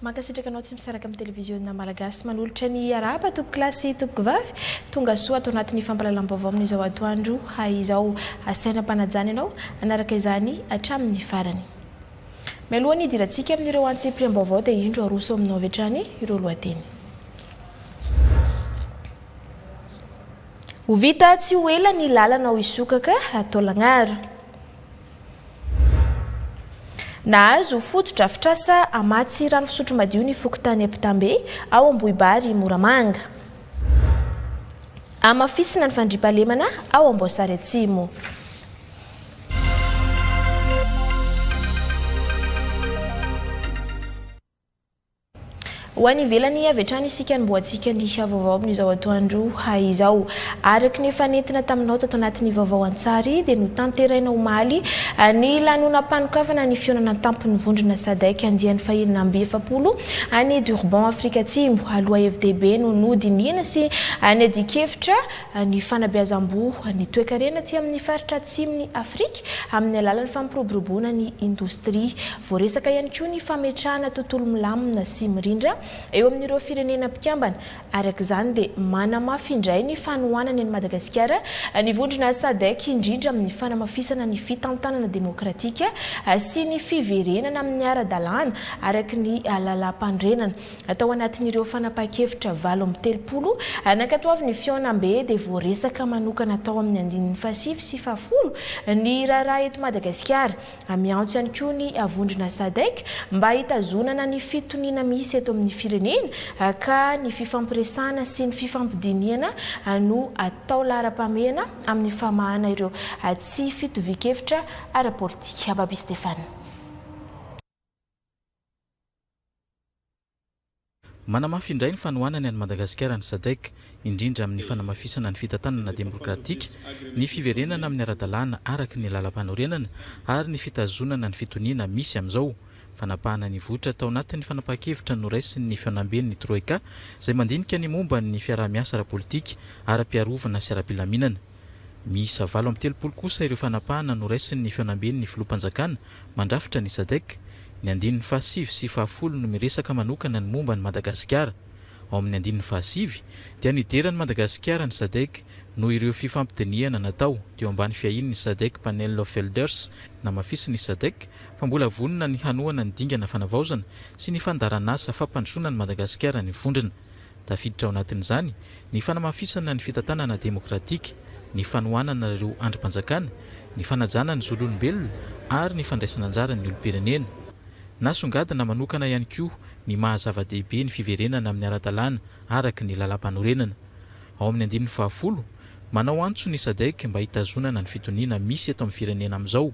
Mankasitraka anao tsy misaraka amin'ny televiziona malagasy. Manolotra ny arahaba tompoko lahy sy tompoko vavy. Tonga soa ato anatin'ny fampahalalam-baovao amin'izao atoandro izao. Asaina ampanajana ianao hanaraka izany hatramin'ny farany. Mialoha ny hidirantsika amin'ireo antsipiriam-baovao dia indro aroso aminao avy hatrany ireo lohateny. Ho vita tsy ho ela ny lalana ao Isokaka, Taolagnaro. Nahazo fotodrafitrasa hamatsy rano fisotro madio ny fokontany Ampitambe, ao Ambohibary Moramanga. Hamafisina ny fandriampahalemana ao Amboasary Atsimo. Ho any ivelany avy hatrany isika no mboa tsy kandisa vaovao amin'izao atoandro izao. Araka ny efa nentina taminao tato anatin'ny vaovao an-tsary dia notanteraina omaly ny lanonam-panokafana ny fihaonana an-tampon'ny vondrona Sadec andiany fahenina amby efapolo any Durban Afrika Atsimo aloha hevi-dehibe no nodinihina sy niadian-kevitra ny fanabeazam-boho ny toekarena aty amin'ny faritra atsimon'i Afrika amin'ny alalan'ny fampiroboroboana ny indostria Voaresaka ihany koa ny fametrahana tontolo milamina sy mirindra eo amin'ireo firenena mpikambana. Araka izany dia manamafy indray ny fanohanany an'i Madagasikara ny vondrona Sadec indrindra amin'ny fanamafisana ny fitantanana demokratika sy ny fiverenana amin'ny ara-dalàna araka ny lalàmpanorenana. Tao anatin'ireo fanapahan-kevitra valo amby telopolo nankatoavin'ny fihaonambe dia voaresaka manokana tao amin'ny andininy fahasivy sy fahafolo ny raharaha eto Madagasikara, Miantso ihany koa ny vondrona Sadec mba hitazonana ny fitoniana misy eto amin'ny firenena ka ny fifampiresahana sy ny fifampidinihana no atao laharam-pahamehana amin'ny famahana ireo tsy fitovian-kevitra ara-politika. Baby Stéphane. Manamafy indray ny fanohanany an'i Madagasikara ny Sadc, indrindra amin'ny fanamafisana ny fitantanana demokratika, ny fiverenana amin'ny ara-dalàna araka ny lalampanorenana ary ny fitazonana ny fitoniana misy amin'izao fanapahana ny vohitra tao anatin'ny fanapahan-kevitra noraisin'ny fihaonamben'ny Troika izay mandinika ny momba ny fiaraha-miasa ara-politika, ara-piarovana sy ara-pilaminana. Miisa valo amby telopolo kosa ireo fanapahana noraisin' ny Fihaonamben' ny Filoham-panjakana mandrafitra ny Sadec. Ny andininy fahasivy sy fahafolo no miresaka manokana ny momba an'i Madagasikara. Ao amin' ny andininy fahasivy dia nidera an'i Madagasikara ny Sadec noho ireo fifampidinihana natao teo ambany fiahian' ny Sadec Panel of Elders. Namafisin' ny Sadec fa mbola vonona ny hanohana ny dingana fanavaozana sy ny fandaharanasa fampandrosoana an'i Madagasikara ny vondrona. Tafiditra ao anatin'izany ny fanamafisana ny fitantanana demokratika, ny fanohanana ireo andrim-panjakana, ny fanajana ny zon'olombelona ary ny fandraisana anjara ny olom-pirenena. Nasongadina manokana ihany koa ny maha zava-dehibe ny fiverenana amin'ny ara-dalàna araka ny lalàmpanorenana. Ao amin'ny andininy fahafolo, manao antso ny Sadc mba hitazonana ny fitoniana misy eto amin'ny firenena amin'izao,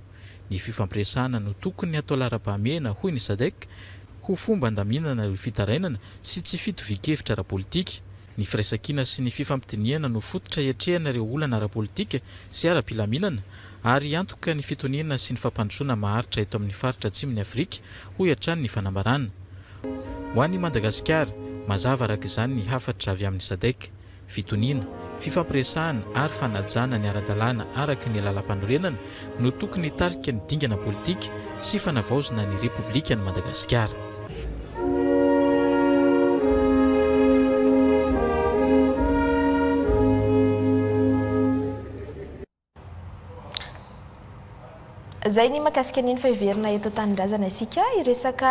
Ny fifampiresahana no tokony atao laharam-pahamehana, hoy ny Sadec, ho fomba handaminana ireo fitarainana sy tsy fitovian-kevitra ara-politika. Ny firaisankina sy ny fifampidinihana no fototra hiatrehana ireo olana ara-politika sy ara-pilaminana ary hiantoka ny fitoniana sy ny fampandrosoana maharitra eto amin'ny faritra Atsimon'i Afrika, hoy hatrany ny fanambarana. Ho an'i Madagasikara, mazava araka izany ny hafatra avy amin'ny Sadec. fitoniana, fifampiresahana ary fanajana ny ara-dalàna araka ny lalampanorenana no tokony hitarika ny dingana politika sy fanavaozana ny Repoblikan'i Madagasikara. Izay ny mahakasika an'iny fa heverina eto an-tanindrazana isika hiresaka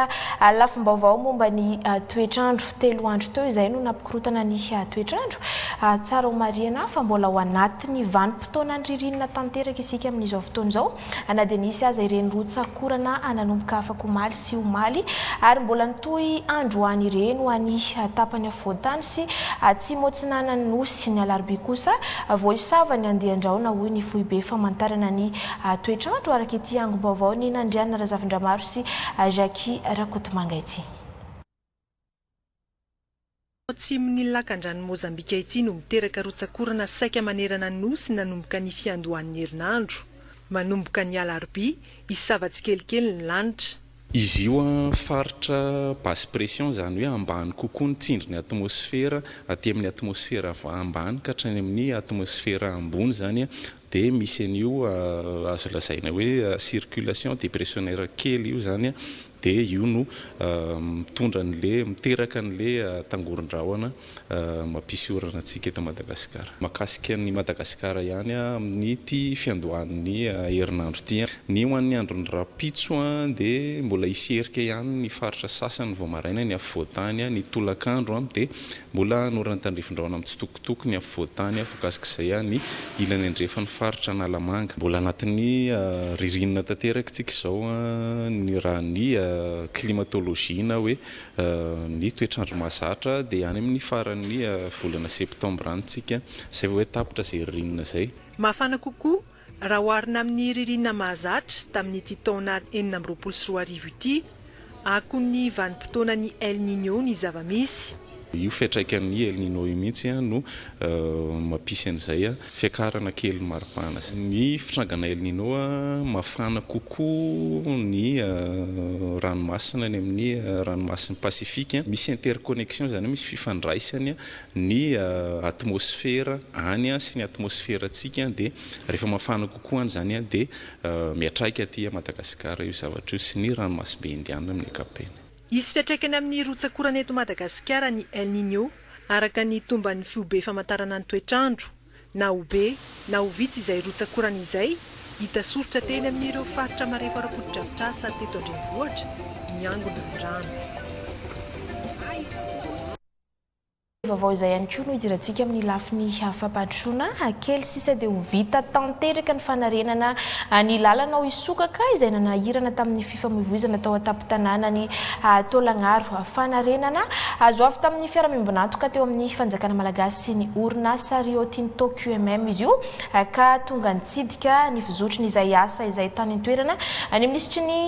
lafim-baovao momba ny toetr'andro. Telo andro teo izay no nampikorotana ny toetr'andro. Tsara homarihina fa mbola ao anatin'ny vanim-potoanan'ny ririnina tanteraka isika amin'izao fotoana izao na dia nisy aza ireny rotsak'orana nanomboka afak'omaly. sy omaly ary mbola nitohy androany ireny ho any tapany afovoan-tany sy atsimo atsinanan'ny Nosy. Ny alarobia kosa vao hisava ny andian-drahona hoy ny foibe famantarana ny toetr'andro araka ity angom-baovaon'i Nandriana Razafindramaro sy Jackie Rakotomanga ity. Ao atsimon'ny lakandranon'i Mozambika ity no miteraka rotsak'orana saika manerana ny nosy nanomboka ny fiandohan'ny herinandro. Manomboka ny alarobia, hisava tsikelikely ny lanitra. Izy io faritra basse pression, izany hoe ambany kokoa ny tsindrin'ny atmosfera aty amin'ny atmosfera ambany ka hatrany amin'ny atmosfera ambony izany Dia misy an'io azo lazaina hoe circulation depressionnaire kely io izany, dia io no mitondra an'le, miteraka an'le tangoron-drahona mampisy orana antsika eto Madagasikara. Mahakasika an'i Madagasikara ihany amin'ity fiandohan'ny herinandro ity. Ny ho an'ny andron'ny rahampitso dia mbola hisy erika ihany ny faritra sasany vao maraina, ny afovoan-tany, ny tolakandro dia mbola hanora ny tandrifin-drahona mitsitokotoko. Tokony havoatan'ny ahy voakasik'izay aho ny ilany andrefan'ny faritra Analamanga. Mbola anatin'ny ririnina tanteraka isika izao raha ny climatologie na hoe ny toetr'andro mahazatra dia any amin'ny faran'ny volana septembre any isika izay vao hoe tapitra izay ririnina izay. Mafana kokoa Raha oharina amin'ny ririnina mahazatra tamin'ity taona enina amby roapolo sy roa arivo ity, akon'ny vanim-potoanan'ny El Niño ny zava-misy. Io fiantraikan'ny El Niño io mihitsy no mampisy an'izay fiakarana kelin'ny maripana izay. Ny fitrangana El Niño, mafana kokoa ny ranomasina any amin'ny ranomasin'i Pasifika. Misy interconnection, izany hoe misy fifandraisany Ny atmosfera any sy ny atmosferantsika dia rehefa mafana kokoa any izany dia miatraika aty Madagasikara io zavatra io sy ny ranomasimbe Indianina amin'ny ankapobeny. Hisy fiatraikany amin'ny rotsak'orana eto Madagasikara ny El Niño, araka ny tomban'ny Fihobe Famantarana ny Toetr'andro, na ho be na ho vitsy izay rotsak'orana izay hita soritra teny amin'ireo faritra marefo ara-potodrafitrasa teto an-drenivohitra miangona ny rano. Vaovao izay ihany koa no hidirantsika amin'ny lafiny hafa Patrona, kely sisa dia ho vita tanteraka ny fanarenana ny lalana ao Isokaka izay nanahirana tamin'ny fifamoivoizana tao an-tampon-tanànan'i Taolagnaro. Fanarenana azo avy tamin'ny fiaraha-miombon'antoka teo amin'ny fanjakana malagasy sy ny orinasa Rio Tinto QMM izy io ka tonga nitsidika ny fizotrin'izay asa izay tany an-toerana ny minisitry ny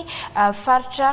faritra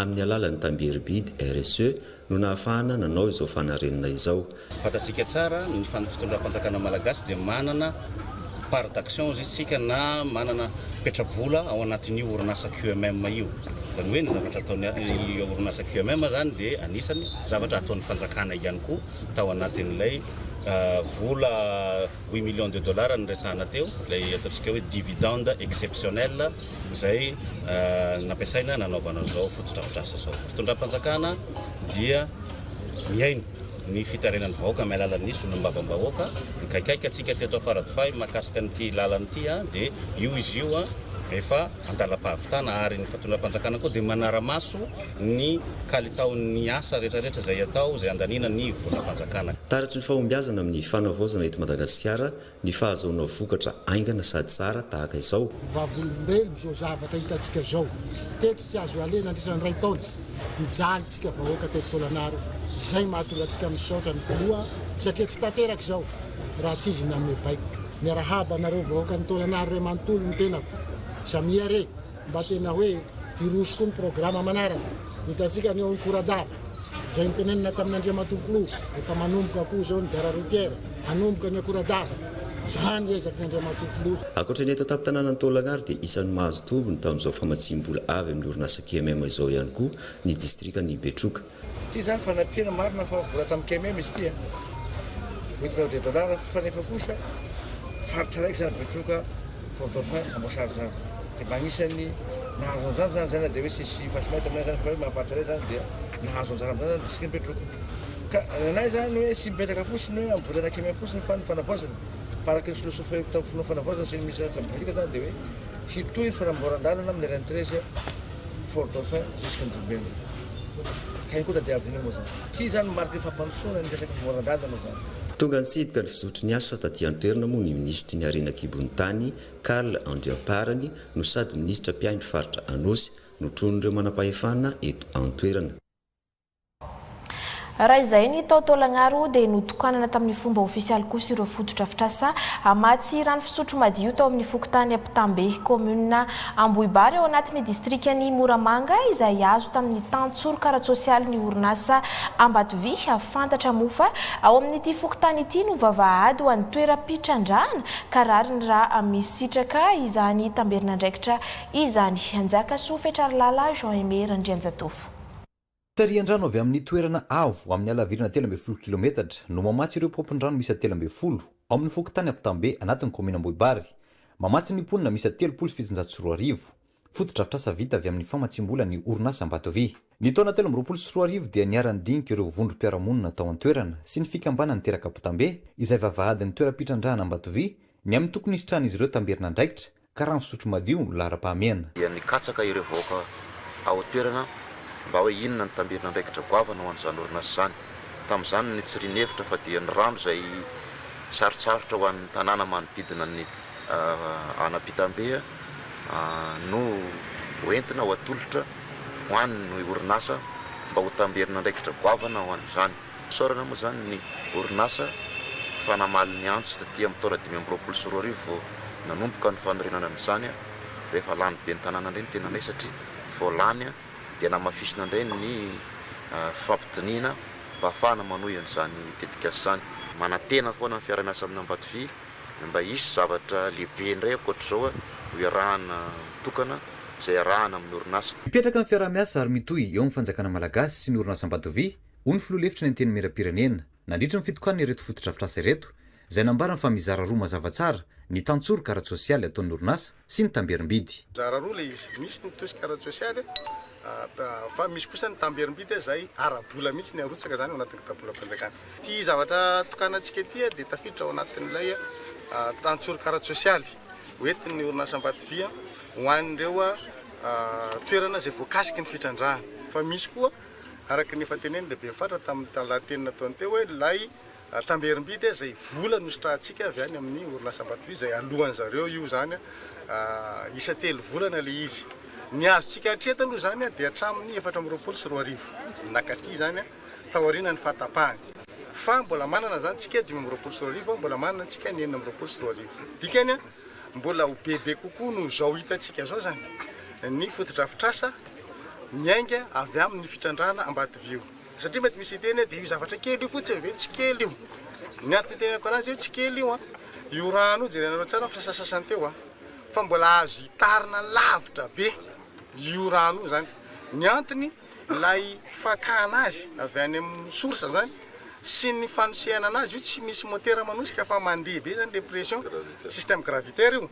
Amin'ny alalan'ny tambieribidy RSE no nahafahana nanao izao fanarenana izao. Fantatsika tsara ny fitondram-panjakana malagasy dia manana part d'action izy isika na manana petra-bola ao anatin'io orinasa QMM io. Izany hoe ny zavatra ataon'ny orinasa QMM izany dia anisany zavatra ataon'ny fanjakana ihany koa tao anatin'ilay vola huit millions de dollars niresahana teo, ilay ataontsika hoe dividende exceptionnel. izay nampiasaina nanaovana izao fotodrafitrasa izao. Ny fitondram-panjakana dia mihaino ny fitarenan'ny vahoaka amin'ny alalan'ny solombavambahoaka. Mikaikaika antsika teto Afaradofay mahakasika an'ity lalana ity dia io izy io rehefa an-dalam-pahavitana ary ny fitondram-panjakana koa dia manara-maso ny kalitaon'ny asa rehetrarehetra izay atao izay andaniana ny volam-panjakana. Taratry ny fahombiazana amin'ny fanavaozana eto Madagasikara ny fahazoana vokatra aingana sady tsara tahaka izao. Vavolombelo izao zavatra hitantsika izao teto tsy azo alena nandritra ny iray taona mijaly tsika vahoaka teto Tôlanaro izay mahatonga antsika misaotra ny filoha satria tsy tanteraka izao raha tsy izy nanome baiko. Miarahaba anareo vahoakan'i Tôlanaro re manontolo ny tenako. Samia re. mba tena hoe hiroso koa ny programa manaraka. Hitantsika ny ao Ankoradava, izay nitenenina tamin' Andriamatoa Filoha, efa manomboka koa izao ny gare routière, hanomboka ny Akoradava. Izany ezaky ny Andriamatoa Filoha. Ankoatra ny eto an-tampon-tanànan'i Taolagnaro dia isan'ny mahazo tombony tamin'izao famatsiam-bola avy amin'ny orinasa KMM izao ihany koa ny distrikan'i Betroka. Ity izany fanampiana marina fa vola tamin'ny KMM izy ity a! Huit millions de dollars fa nefa kosa faritra araiky izany Betroka, Fort Dauphin, Amboasary izany dia mba anisan'ny nahazo an'izany izany izay na dia hoe tsy nisy fasy may taminay izany fa hoe mahafaritra anay izany dia nahazo anjara amin'izany izany ny distrikan'i Betroka. Ka ny anay izany hoe tsy mipetraka fotsiny hoe amin'ny volana KMM fotsiny fa ny fanavaozana fa araka ny filôsôfiako tamin'ny fonoana fanavaozana sy ny minisitera ny Tabiboliaka izany dia hoe hitohy ny fanamboaran-dalana amin'ny RN treize Fort Dauphin jusqu'à Anjombenja. Iny koa tadiaviko indray moa zany. Tsy io zany no mariky ny fampandrosoana ny resaka fivoaran-dalana zany. Tonga nitsidika ny fizotry ny asa taty an-toerana moa ny minisitry ny harena an-kibon'ny tany, Carl Andriamparany, no sady minisitra mpiahy ny faritra Anôsy. Notronin'ireo manampahefana eto an-toerana. Raha izay ny tao Taolagnaro dia notokanana tamin'ny fomba ofisialy kosa ireo fotodrafitrasa hamatsy rano fisotro madio tao amin'ny fokontany Ampitambe, kaominina Ambohibary ao anatin'ny distrikan'i Moramanga izay azo tamin'ny tantsoroka ara-tsosialy ny orinasa Ambatovia fantatra moa fa ao amin'ity fokontany ity no vavahady ho an'ny toeram-pitrandrahana ka rariny raha misitraka izany tamberin'andraikitra izany. Njakasofetralala Jean Aimé Randrianjatovo. Tarihan-drano avy amin'ny toerana avo amin'ny halavirana telo ambin'ny folo kilometatra no mamatsy ireo paompin-drano miisa telo ambin'ny folo ao amin'ny fokontany Ampitambe anatin'ny kaominina Ambohibary. Mamatsy ny mponina miisa telopolo sy fitonjato sy roa arivo. Fotodrafitrasa vita avy amin'ny famatsiam-bola ny orinasa Ambatovy. Ny taona telo amby roapolo sy roa arivo dia niara-nidinika ireo vondrom-piarahamonina tao an-toerana sy ny fikambanan'ny terak'Ampitambe izay vavahadin'ny toeram-pitrandrahana Ambatovy ny amin'ny tokony hisitrahan'izy ireo tamberin'andraikitra ka rano fisotro madio no laharam-pahamehana. dia nikatsaka ireo vahoaka ao an-toerana mba hoe inona no tambirin'andraikitra goavana ho an'izany orinasa izany. Tamin'izany no nitsiriany hevitra fa dia ny rano izay sarotsarotra ho an'ny tanàna manodidina an'i Anapitambe no hoentina ho atolotra ho an'ny orinasa mba ho tamberin'andraikitra goavana ho an'izany. Isaorana moa izany ny orinasa fa namaly ny antso taty amin'ny taona dimy amby roapolo sy roa arivo vao nanomboka ny fanorenana an'izany an! rehefa lany ben'ny tanàna indray ny tenanay satria vao lany an! dia namafisina indray ny fifampidinihina mba hahafahana manohy an'izany tetikasa izany. Manantena foana ny fiaraha-miasa amin'Ambatovy mba hisy zavatra lehibe indray ankoatr'izao an! ho iarahana mitokana izay iarahana amin'ny orinasa. Hipetraka ny fiaraha-miasa ary mitohy eo amin'ny fanjakana malagasy sy ny orinas'Ambatovy hoy ny filoha lefitry ny Antenimierampirenena, nandritry ny fitokanana ireto fotodrafitrasa ireto, izay nambarany fa mizara roa mazava tsara ny tantsoroka ara-tsosialy ataon'ny orinasa sy ny tamberim-bidy. Mizara roa ilay izy, misy ny tosika ara-tsosialy fa misy kosa ny tamberim-bidy izay ara-bola mihitsy ny arotsaka izany ao anatin'ny kitapolam-panjakana. Ity zavatra tokanantsika ity dia tafiditra ao anatin'ilay tantsoroka ara-tsosialy hoentin'ny orinasa Ambatodia ho an'ireo toerana izay voakasiky ny fitrandrahana, fa misy koa Araka ny efa tenenin'ny lehiben'ny faritra tamin'ny lahateny nataony teo hoe ilay tamberim-bidy izay vola nositrahantsika avy any amin'ny orinasa Ambatovy izay aloan'ny zareo io izany isa telo volana ilay izy. Ny azontsika hatreto aloha izany dia hatramin'ny efatra amby roapolo sy roa arivo nakaty izany taorianan'ny fahatapahany fa mbola manana izany tsika dimy amby roapolo sy roa arivo mbola manana tsika ny enina amby roapolo sy roa arivo dikany mbola ho bebe kokoa noho izao hitantsika izao izany ny fotodrafitrasa miainga avy amin' ny fitrandrahana ambatovio. Satria mety misy hiteny hoe dia io zavatra kely io fotsiny ve? Tsy kely io. Ny antony itenenako an'azy hoe tsy kely io an! Io rano io, jerenareo tsara ny fisasasasany teo an! Fa mbola azo itarina lavitra be io rano io izany. Ny antony, ilay fakana azy avy any amin'ny source izany sy ny fanosehana an'azy, io tsy misy motera manosika fa mandeha be izany ilay pression, système gravitaire io.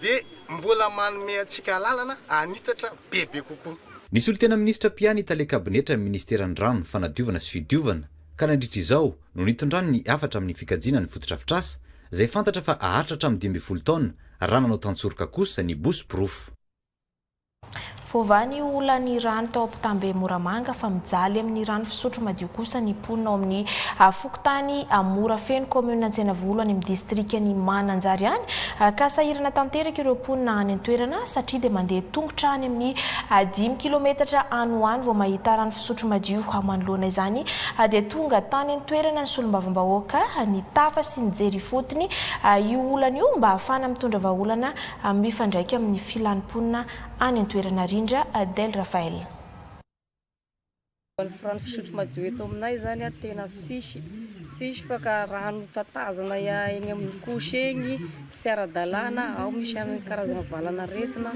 dia mbola manome antsika alalana hanitatra bebe kokoa. Ny solontena minisitra mpia ny tale kabinetra ny ministeran'ny rano, fanadiovana sy fidiovana, ka nandritra izao no nitondrany ny hafatra amin'ny fikajiana ny fotodrafitrasa izay fantatra fa haharitra hatramin'ny dimy ambin'ny folo taona raha nanao tan-tsoroka kosa ny bosy porofo. Voavaha ny olan'ny rano tao Ampitambe Moramanga fa mijaly amin'ny rano fisotro madio kosa ny mponina ao amin'ny fokontany Morafeno kaominina Antsenavolo any amin'ny distrikan'i Mananjary any ka sahirana tanteraka ireo mponina any an-toerana satria dia mandeha tongotra any amin'ny dimy kilometatra any ho any vao mahita rano fisotro madio manoloana izany dia tonga tany an-toerana ny solombavambahoaka nitafa sy nijery ifotony io olana io mba hahafahana mitondra vahaolana mifandraika amin'ny filan'ny mponina any an-toerana rindra, Adel Raphael. Ny rano fisotro madio eto aminay zany a tena tsisy, tsisy fa ka rano tatazana eny amin'ny couche eny, tsy ara-dalàna, ao misy an'ny karazana valan'aretina,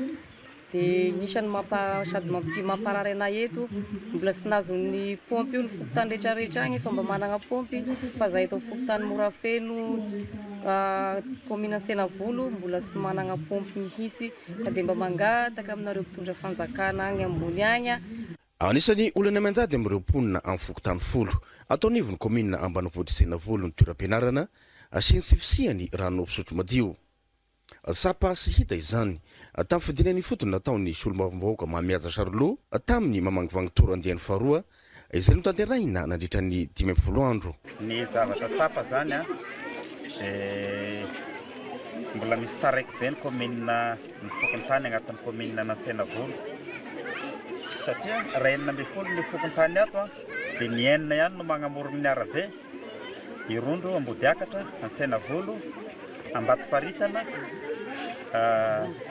dia isan'ny mampa sady mampi mamparary anay eto, mbola tsy nazon'ny paompy io ny fokontany rehetra rehetra agny efa mba managna paompy fa za eto amin'ny fokontany Morafeno, Kaominina Antenavolo mbola tsy managna paompy mihitsy ka dia mba mangataka aminareo mpitondra fanjakana agny ambony agny. Anisan'ny olana mianjady amin'ireo mponina amin'ny fokontany folo ato anivon'ny kaominina ambanivohitr'i Tenavolo ny toeram-pianarana sy ny tsy fisian'ny rano fisotro madio. Tsapa sy hita izany tamin'ny fidinana ifotony nataon'ny solombavambahoaka Mahamihaja Charlot tamin'ny mamangivangy tour andiany faharoa Izay notanterahina nandritra ny dimy ambin'ny folo andro. Ny zavatra tsapa izany dia mbola misy taraiky be ny kaominina ny fokontany agnatin'ny kaominina Anantsenavola satria raha enina ambin'ny folo ny fokontany ato dia ny enina ihany no magnamorogno ny arabe, Irondro, Ambodiakatra, Antsenavolo, Ambatofaritana,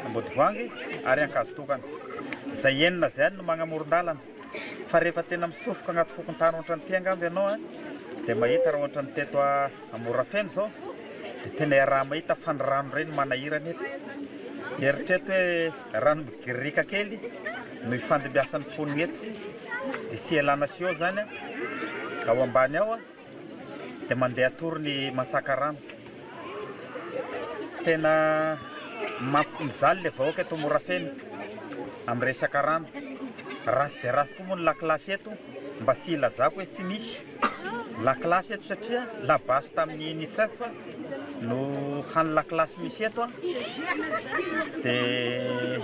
Ambodivoangy ary Ankazotokana. Izay enina izay ihany no magnamoron-dalana. Fa rehefa tena mitsofoka agnaty fokontany ohatrany ty angamba ianao a, dia mahita raha ohatrany teto a Morafeno zao, dia tena iaraha mahita fa ny rano reny manahirana eto. Eritreto hoe rano migirika kely no ifandimbiasan'ny mponina eto, dia tsy ialana sio zany a, ao ambany ao a. dia mandeha atory ny masaka rano. Tena mamp- mijaly ilay vahoaka eto Morafeno amin'ny resaka rano. Ratsy dia ratsy koa moa ny lakilasy eto, mba tsy hilazako hoe tsy misy lakilasy eto satria labasy tamin'ny UNICEF no hany lakilasy misy eto a. Dia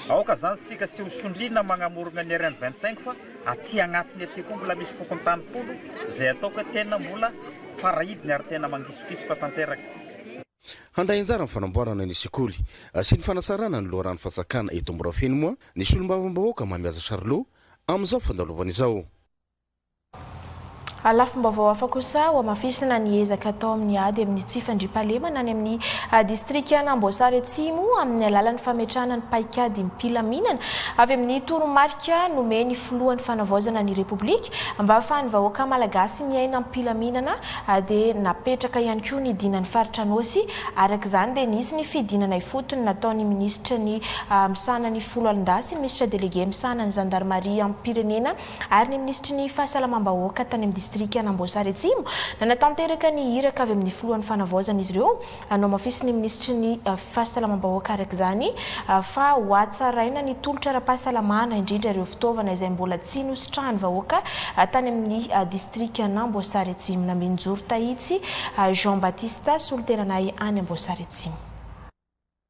aoka izany isika tsy ho sondriana magnamorogna ny RN 25 fa Aty agnatiny aty koa mbola misy fokontany folo izay atao koa tena mbola farahidiny ary tena mangisokisoka tanteraka. Handray anjara amin'ny fanamboarana ny sekoly sy ny fanasarana ny loharano fanjakana eto Morafeno moa ny Solombavambahoaka Mamihaja Charlot amin'izao fandalovana izao. A Lafim-baovao hafa kosa, hohamafisina ny ezaka atao amin'ny ady amin'ny tsy fandriampahalemana any amin'ny distrikan'Amboasary Atsimo amin'ny alalan'ny fametrahana ny paikadim-pilaminana avy amin'ny toromarika nomen'ny filohan'ny Fanavaozana ny Repoblika mba hahafahan'ny vahoaka Malagasy miaina am-pilaminana dia napetraka ihany koa ny dinan'ny faritra Anôsy araka izany dia nisy ny fidinana ifotony nataon'ny minisitra ny misahana ny foloalin-dahy sy ny minisitra delege misahana ny zandarimariam-pirenena ary ny minisitry ny Fahasalamam-bahoaka tany amin'ny distrikan'Amboasary Atsimo nanatanteraka ny iraka avy amin'ny filohan'ny Fanavaozana izy ireo no hamafisin'ny minisitry ny Fahasalamam-bahoaka araka izany fa hohatsaraina ny tolotra ara-pahasalamana indrindra ireo fitaovana izay mbola tsy nositrahan'ny vahoaka tany amin'ny distrikan'Amboasary Atsimo. Naminjoro tahitsy Jean Baptiste, solontenanay any Amboasary Atsimo.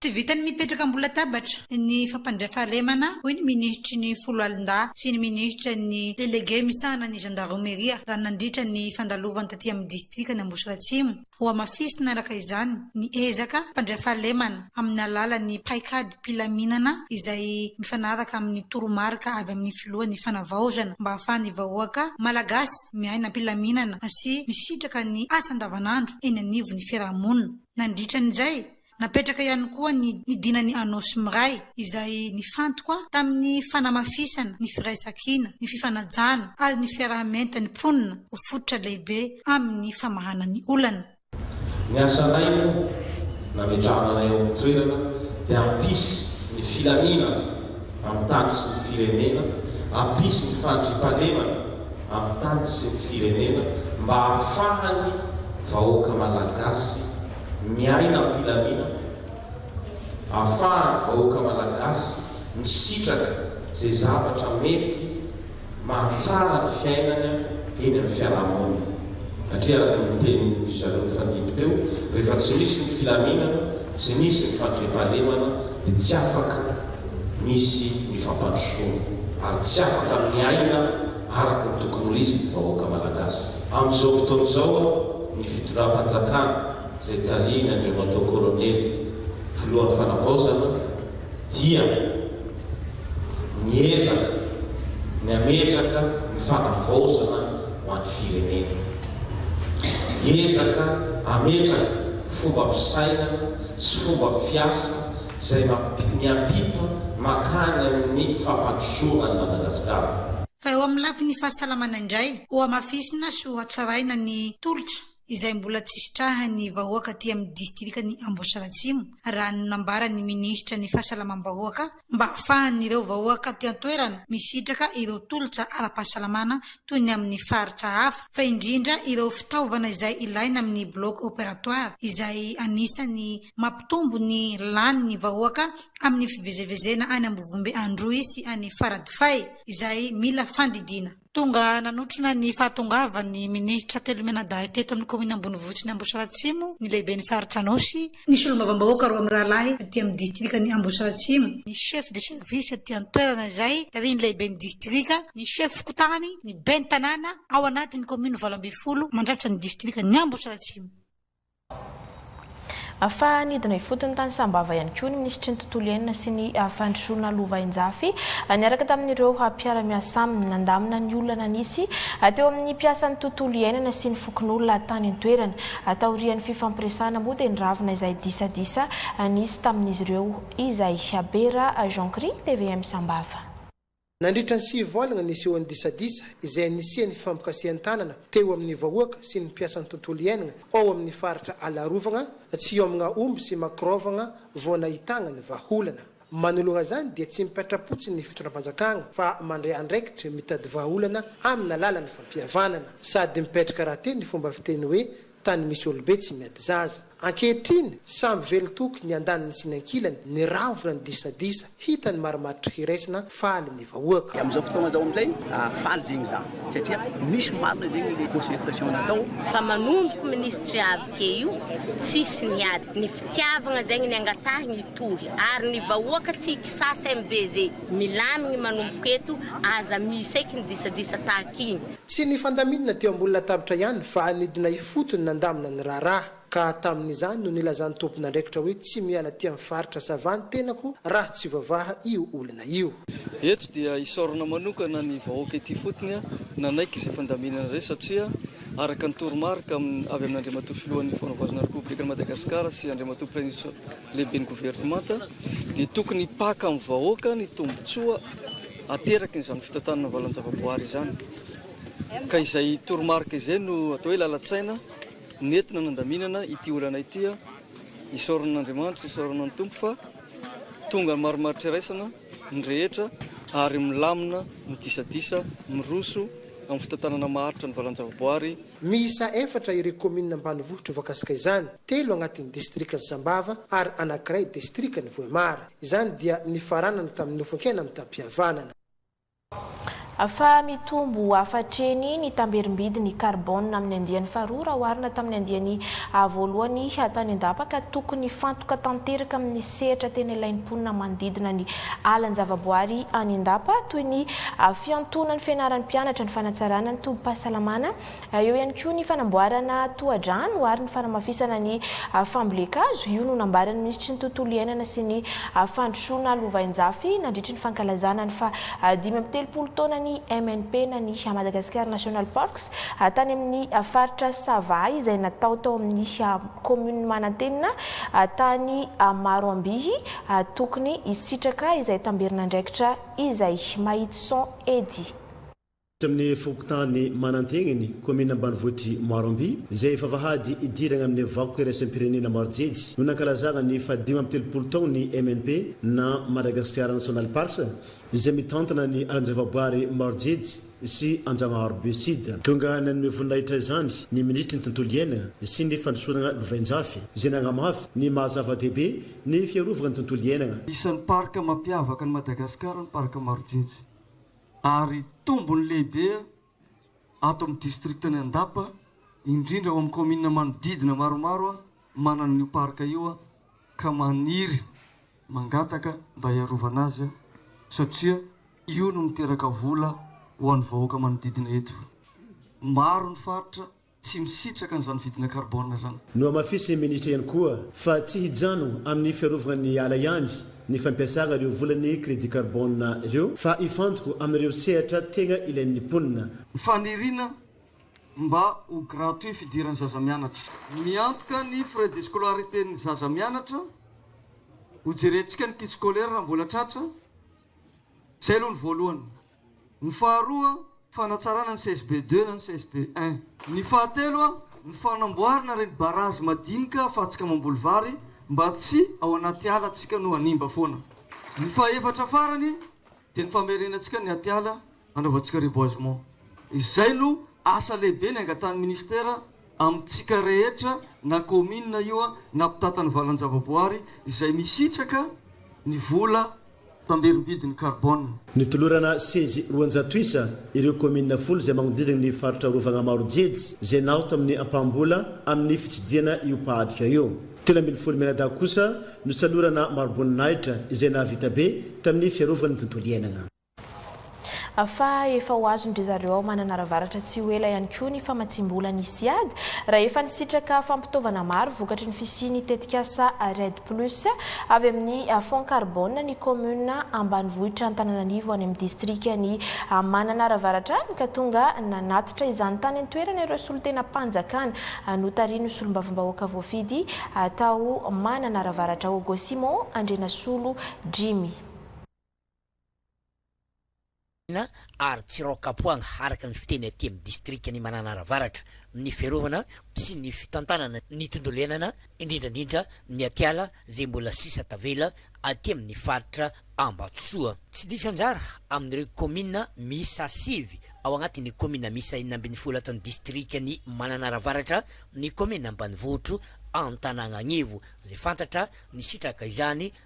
Tsy vitan'ny mipetraka ambony latabatra ny fampandray fahalemana, hoy ny minisitry ny Foloalindahy sy ny minisitra ny delege misahana ny zandaromeria raha nandritra ny fandalovany taty amin'ny distrikan' Ambositra Atsimo. Hohamafisina araka izany ny ezaka hampandray fahalemana amin'ny alalan'ny paikadim-pilaminana izay mifanaraka amin'ny toromarika avy amin'ny filohan'ny Fanavaozana mba hahafahan'ny vahoaka Malagasy miaina am-pilaminana sy misitraka ny asa andavanandro eny anivon'ny fiarahamonina. Nandritran'izay Napetraka ihany koa ny ny dinan'i Anôsy Miray, izay nifantoka tamin'ny fanamafisana ny firaisankina, ny fifanajana ary ny fiaraha-mientan'ny mponina ho fototra lehibe amin'ny famahana ny olana. Ny asanay moa nametrahana anay ao amin'ny toerana dia hampisy ny filaminana amin'ny tany sy ny firenena, hampisy ny fandriampahalemana amin'ny tany sy ny firenena mba hahafahan'ny vahoaka Malagasy, miaina am-pilaminana, ahafahan'ny vahoaka Malagasy misitraka izay zavatra mety mahatsara ny fiainany eny amin'ny fiarahamonina. Satria araka ny tenin-dry zareo nifandimby teo, rehefa tsy misy ny filaminana, tsy misy ny fandriampahalemana dia tsy afaka misy ny fampandrosoana ary tsy afaka miaina, araka ny tokony ho izy ny vahoaka Malagasy. Amin'izao fotoana izao aho ny fitondram-panjakana izay tarihin' Andriamatoa Kolonely Filohan'ny Fanavaozana dia miezaka ny hametraka ny fanavaozana ho an'ny firenena. Hiezaka hametraka fomba fisainana sy fomba fiasa. izay miampita mankany amin'ny fampandrosoana an'i Madagasikara. Fa eo amin'ny lafiny fahasalamana indray, hohamafisina sy hohatsaraina ny tolotra izay mbola tsy sitrahan'ny vahoaka aty amin'ny distrikan'i Amboasary Atsimo, raha ny nambaran'ny minisitra ny fahasalamam-bahoaka, mba hahafahan'ireo vahoaka aty an-toerana misitraka ireo tolotra ara-pahasalamana toy ny amin'ny faritra hafa, fa indrindra ireo fitaovana izay ilaina amin'ny bloc opératoire izay anisan'ny. Mampitombo ny lany ny vahoaka amin'ny fivezevezena any Ambovombe Androy sy any Faradofay izay mila fandidiana. Tonga nanotrona ny fahatongavan'ny minisitra telo mianadahy teto amin'ny kaominina Ambonivohitsin'i Ambositra Atsimo ny lehiben'ny faritra Anôsy, ny solombavambahoaka roa mirahalahy aty amin'ny distrikan'i Ambositra Atsimo, ny chef de service aty an-toerana izay tarihin'ny lehiben'ny distrika, ny chef fokontany, ny ben'ny tanàna ao anatin'ny kaominina valo ambin'ny folo mandrafitra ny distrikan'i Ambositra Atsimo. Fa nidina ifotony tany Sambava ihany koa ny minisitry ny Tontolo iainana sy ny fandrosoana lovainjafy niaraka tamin'ireo mpiara-miasa aminy. Nandamina ny olana nisy teo amin'ny mpiasan'ny tontolo iainana sy ny fokonolona tany an-toerana. Taorian'ny fifampiresahana moa dia niravona izay disadisa nisy tamin'izy ireo izay. Bera Jean Chri, tvm Sambava. Nandritra ny sivy volagna nisehoan'ny disadisa izay nisian'ny fifampikasihan-tanana teo amin'ny vahoaka sy ny mpiasan'ny tontolo iainagna ao amin'ny faritra Alarovagna, Tsiômagna Omby sy Makorôvagna vao nahitagna ny vahaolana. Manoloana izany dia tsy mipetra-potsiny ny fitondram-panjakagna fa mandray andraikitry mitady vahaolana amin'alalan'ny fampihavanana. Sady mipetraka rahateo ny fomba fiteny hoe Tany misy olobe tsy miady zaza. Ankehitriny, samy velon-toky ny andaniny sy ny ankilany, niravona ny disadisa, hita ny marimaritra hiraisana, faly ny vahoaka. Amin'izao fotoana izao amin'izay, faly zegny izaho satria misy marina zegny le concertation natao. Fa manomboka minisitry avy ke io tsisy niady. Ny fitiavagna zegny ny angatahigny. tohy ary ny vahoaka tsy kisasa MBZ milamigny manomboko eto aza miseky ny disadisa tahaka igny. Tsy ny fandaminana teo ambony latabitra ihany fa nidina ifotony nandamina ny raharaha. Ka tamin'izany no nilazan'ny tompon'andraikitra hoe tsy miala aty amin'ny faritra Sava ny tenako raha tsy voavaha io olana io. Eto dia isaorana manokana ny vahoaka ety ifotony nanaiky izay fandaminana izay satria Araka ny toromarika avy amin'Andriamatoa Filohan'ny Fanovozana Repoblikan'i Madagasikara sy Andriamatoa Praiminisitra Lehiben'ny Governemanta dia tokony hipaka amin'ny vahoaka ny tombontsoa aterakin'izany fitantanana valan-javaboahary izany. Ka izay toromarika izay no atao hoe lalan-tsaina nentina nandaminana ity olana ity. Isaorana an'Andriamanitra, isaorana ny Tompo fa tonga ny marimaritra iraisana. ny rehetra ary milamina, midisadisa, miroso amin'ny fitantanana maharitra ny valan-javaboary. Miisa efatra ireo kaominina ambanivohitra voakasika izany, telo agnatin'ny distrikan'i Sambava ary anankiray distrikan'i Vohemar. Izany dia nifaranana tamin'ny nofonkena mitam-pihavanana. Fa mitombo hafatreny ny tamberim-bidin'ny karbôna amin'ny andiany faharoa raha oharina tamin'ny andiany voalohany tany an-dapa ka tokony hifantoka tanteraka amin'ny sehatra tena ilain'ny mponina manodidina ny alan-javaboary any an-dapa toy ny fiantoana ny fianaran'ny mpianatra, ny fanatsarana ny tobim-pahasalamana, Eo ihany koa ny fanamboarana tohadrano ary ny fanamafisana ny fambolen-kazo. Io no nambaran'ny minisitry ny Tontolo iainana sy ny fandrosoana lovainjafy nandritry ny fankalazana ny faha dimy amby telopolo taonan'ny MNP na ny Madagascar National Parks tany amin'ny faritra Sava izay natao tao amin'ny kaominina Manantenina tany Maroambihy tokony hisitraka izay tamberin'andraikitra izay. Mahitsy son Eddy. Tsy amin'ny fokontany Mananteniny, kaominina ambanivohitr'i Maroamby, izay efa vahady hidirana amin'ny vakoka iraisam-pirenena maro jejo, no nankalazana ny fahadimy amby telopolo taona ny MNP na Madagascar National Parks, izay mitantana ny alan-javaboary maro jejo sy Anjanahary Be Sud. Tonga nanome voninahitra izany ny minisitry ny Tontolo iainana sy ny fandrosoana lovainjafy, izay nanamafy ny maha zava-dehibe ny fiarovana ny tontolo iainana. Isan'ny parka mampiavaka an'i Madagasikara ny parka maro jejo. ary tombony lehibe ato amin'ny distrikan'i Andapa, indrindra ao amin'ny kaominina manodidina maromaro manana an'io parc io ka maniry mangataka mba hiarovana azy satria io no miteraka vola ho an'ny vahoaka manodidina eto. Maro ny faritra tsy misitraka an'izany vidina karbona izany. Nohamafisin'ny minisitra ihany koa fa tsy hijano amin'ny fiarovana ny ala ihany ny fampiasana ireo volan'ny crédit karbona ireo fa hifantoko amin'ireo sehatra tegna ilain'ny mponina. Ny faniriana mba ho gratuit fidiran'ny zaza mianatra. Miantoka ny frais de scolarité ny zaza mianatra, hojerentsika ny kit scolaire raha mbola tratra, izay aloha ny voalohany. Ny faharoa, fanatsarana ny CSB deux na ny CSB un. Ny fahatelo, ny fanamboarana ireny barazy madinika ahafahantsika mamboly vary mba tsy ao anaty ala antsika no hanimba foana. Ny fahefatra farany dia ny famerenantsika ny atiala hanaovantsika reboisement. Izay no asa lehibe ny angatahan'ny Ministera amintsika rehetra na kaominina io na mpitàtan'ny valan-javaboary izay misitraka ny vola tamberim-bidin'ny karbôna. Notolorana sezy roanjato isa ireo kaominina folo izay magnodidina ny faritra arovagna maro jejy izay naoty amin'ny ampaham-bola amin'ny fitsidihana io mpahadika io. Telo ambin'ny folo mianadahy kosa nosalorana maro-boninahitra izay nahavita be tamin'ny fiarovagna ny tontolo iainagna. Fa efa ho azon-dry zareo ao Mananaravaratra tsy ho ela ihany koa ny famatsiam-bola ny Siad, raha efa nisitraka fampitaovana maro vokatry ny fisian'ny tetikasa REDD Plus avy amin'ny Fonds Carbone ny kaominina ambanivohitra Antananarivo any amin'ny distrikan'i Mananaravaratra any ka tonga nanatitra izany tany an-toerana ireo solontenam-panjakana notarihin'ny solombavambahoaka voafidy tao Mananaravaratra Augo Simon Andrianasolo Jimmy. ary Tsiraokapoanga araka ny fiteny aty amin'ny distrikan'i Mananara Avaratra, ny fiarovana sy ny fitantanana ny tontolo iainana, indrindra indrindra ny atiala izay mbola sisa tavela aty amin'ny faritra Ambatosoa. Tsy diso anjara amin'ireo kaominina miisa sivy ao anatin'ny kaominina miisa enina ambin'ny folo ato amin'ny distrikan'i Mananara Avaratra ny kaominina ambanivohitro Antanananivo izay fantatra nisitraka izany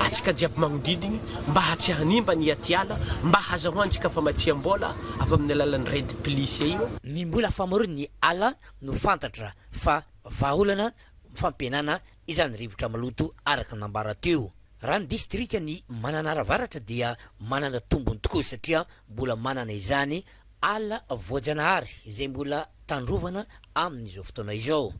antsika jiaby magnodidigny mba tsy hanimba ny atiala mba hazahoantsika famatsiam-bola avy amin'ny alalan'ny REDD Plus io. Ny mbola famorin' ny ala no fantatra fa vahaolana fampihenana izany rivotra maloto araka ny nambara teo. Raha ny distrikan' i Mananara Avaratra dia manana tombony tokoa satria mbola manana izany ala voajanahary izay mbola tandrovana amin' izao fotoana izao.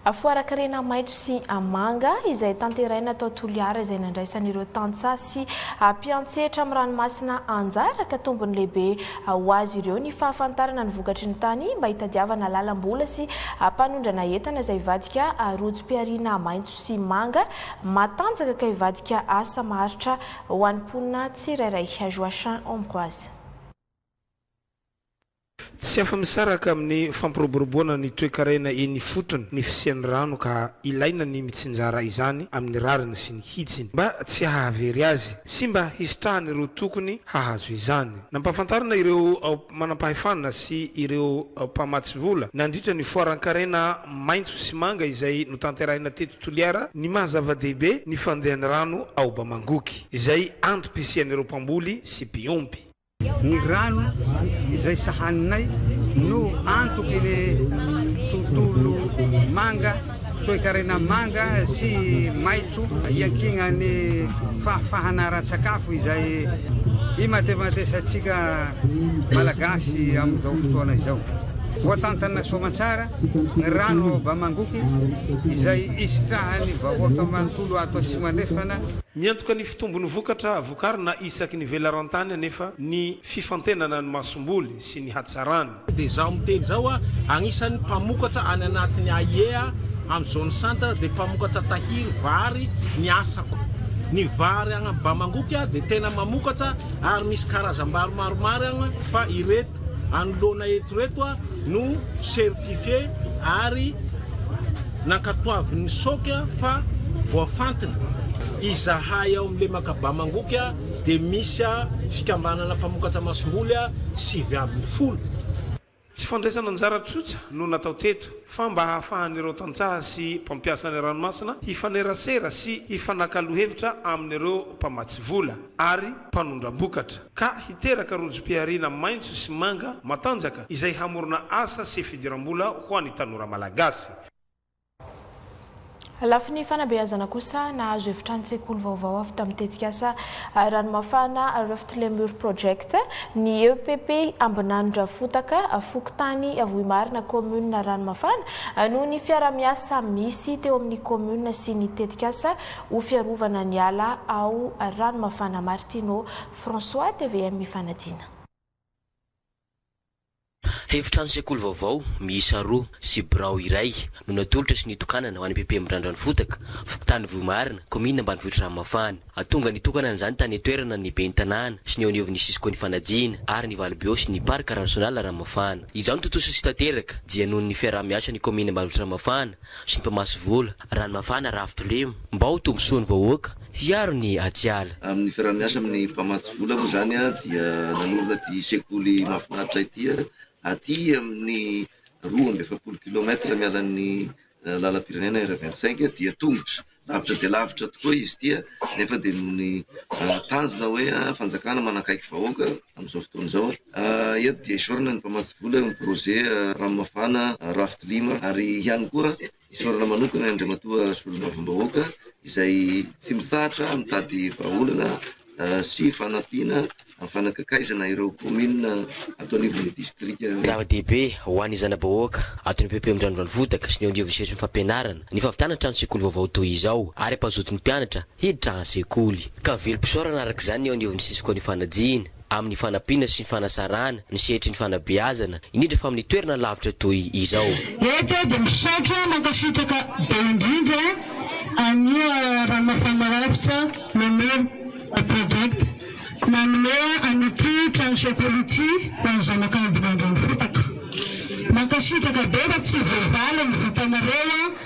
Afoara karena maitso sy manga izay tanteraina tao Toliara izay nandraisan'ireo tantsaha sy mpiantsetra amin'ny ranomasina anjara ka tombony lehibe ho azy ireo ny fahafantarana ny vokatry ny tany mba hitadiavana lalam-bola sy hampanondrana entana izay hivadika rojom-pihariana maitso sy manga matanjaka ka hivadika asa maharitra ho an'ny mponina tsirairay Joachim Ambroise. Tsy afa-misaraka amin'ny fampiroboroboana ny toekarena eny ifotony ny fisian'ny rano ka ilaina ny mitsinjara izany amin'ny rariny sy ny hitsiny mba tsy hahavery azy sy mba hisitrahan'ireo tokony hahazo izany. Nampahafantarina ireo manampahefana sy ireo mpamatsy vola nandritra ny foaran-karena maitso sy manga izay notanterahina teto Toliara ny maha zava-dehibe ny fandehan'ny rano ao Bamangoky izay antom-pisian'ireo mpamboly sy mpiompy. Ny rano izay sahaninay no antoky ny tontolo manga, toekarena manga sy maitso iankinan'ny fahafahana ara-tsakafo izay imatematesantsika Malagasy amin'izao fotoana izao. Voatantana soamantsara ny rano ao Bamangoky izay isitrahan'ny vahoaka manontolo ato Atsimo Andrefana. Miantoka ny fitombon'ny vokatra. Vokarina isaky ny velaran-tany anefa ny fifantenana ny masomboly sy ny hatsarany. Dia izaho miteny izao a, agnisan'ny mpamokatra any anatin'ny AIEA amin'ny zone centre dia mpamokatra tahiry, vary, ny asako. Ny vary agny Bamangoky a dia tena mamokatra ary misy karazam-bary maromaro agny fa ireto. anoloana eto ireto no certifié ary nankatoavin'ny soc fa voafantina. Izahay ao amin'ny lemaka Bamangoky dia misy fikambanana mpamokatra masomboly sivy ambin'ny folo. Tsy fandraisana anjara tsotra no natao teto fa mba hahafahan'ireo tantsaha sy mpampiasa ny ranomasina hifanerasera sy hifanakalo hevitra amin'ireo mpamatsy vola ary mpanondram-bokatra. ka hiteraka rojom-pihariana maitso sy manga matanjaka izay hamorona asa sy fidiram-bola ho an'ny tanora malagasy. Lafiny fanabeazana kosa, nahazo efitranon-tsekoly vaovao avy tamin'ny tetikasa Ranomafana Rift Lemur Project ny epp Ambinanindrafotaka, fokontany Vohimarina, kaominina Ranomafana, noho ny fiaraha-miasa misy teo amin'ny kaominina sy ny tetikasa ho fiarovana ny ala ao Ranomafana Martino. François, tvm Fanadina. Efitrano sekoly vaovao miisa roa sy birao iray no natolotra sy nitokanana ho any PP Mirandran'ny Fotaka, fokontany Vohimarina, kaominina ambanivohitr'i Ranomafana. Hatonga ny hitokanana izany tany an-toerana ny ben'ny tanàna sy ny eo anivon'ny Cisco ny Fanadina ary ny Valbio sy ny Parc Ransional Ranomafana. Izao no tontosa sy tanteraka dia noho ny fiaraha-miasan'ny kaominina ambanivohitr'i Ranomafana sy ny mpamatsy vola, Ranomafana Raha Fitolemo, mba ho tombosoan'ny vahoaka hiaro ny atiala. Amin'ny fiaraha-miasa amin'ny mpamatsy vola moa izany dia nanorina ity sekoly mahafinaritra ity aty amin'ny roa amby efapolo kilomètre mialan'ny lalam-pirenena R vingt cinq dia tongotra, lavitra dia lavitra tokoa izy ity nefa dia noho ny tanjona hoe fanjakana manakaiky vahoaka amin'izao fotoana izao. Eto dia esorina ny mpamatsy vola eo amin'ny projet Ranomafana Raftolima ary ihany koa Isaorana manokana Andriamatoa Solombavambahoaka izay tsy mitsahatra mitady vahaolana sy fanampiana amin'ny fanakakaizana ireo kaominina ato anivon'ny distrika. Zava-dehibe ho an'ny zana-bahoaka ato amin'ny PP Andrano Ranivohitaka sy ny eo anivon'ny sehatry ny fampianarana ny fahavitana trano sekoly vaovao toy izao ary hampazoto ny mpianatra hiditra an-tsekoly ka velom-pisaorana araka izany ny eo anivon'ny Cisco Ny Fanajiana amin'ny fanampiana sy fanasarahana ny sehatry ny fanabeazana, indrindra fa amin'ny toerana lavitra toy izao. Eto aho dia misaotra mankasitraka be indrindra an'io Ramafanarafotsa Mamely Project nanome an'ity trano sekoly ity ho an'ny zanak'Ambohimandrano fotaka. Mankasitraka be fa tsy voavaly ny vitanareo.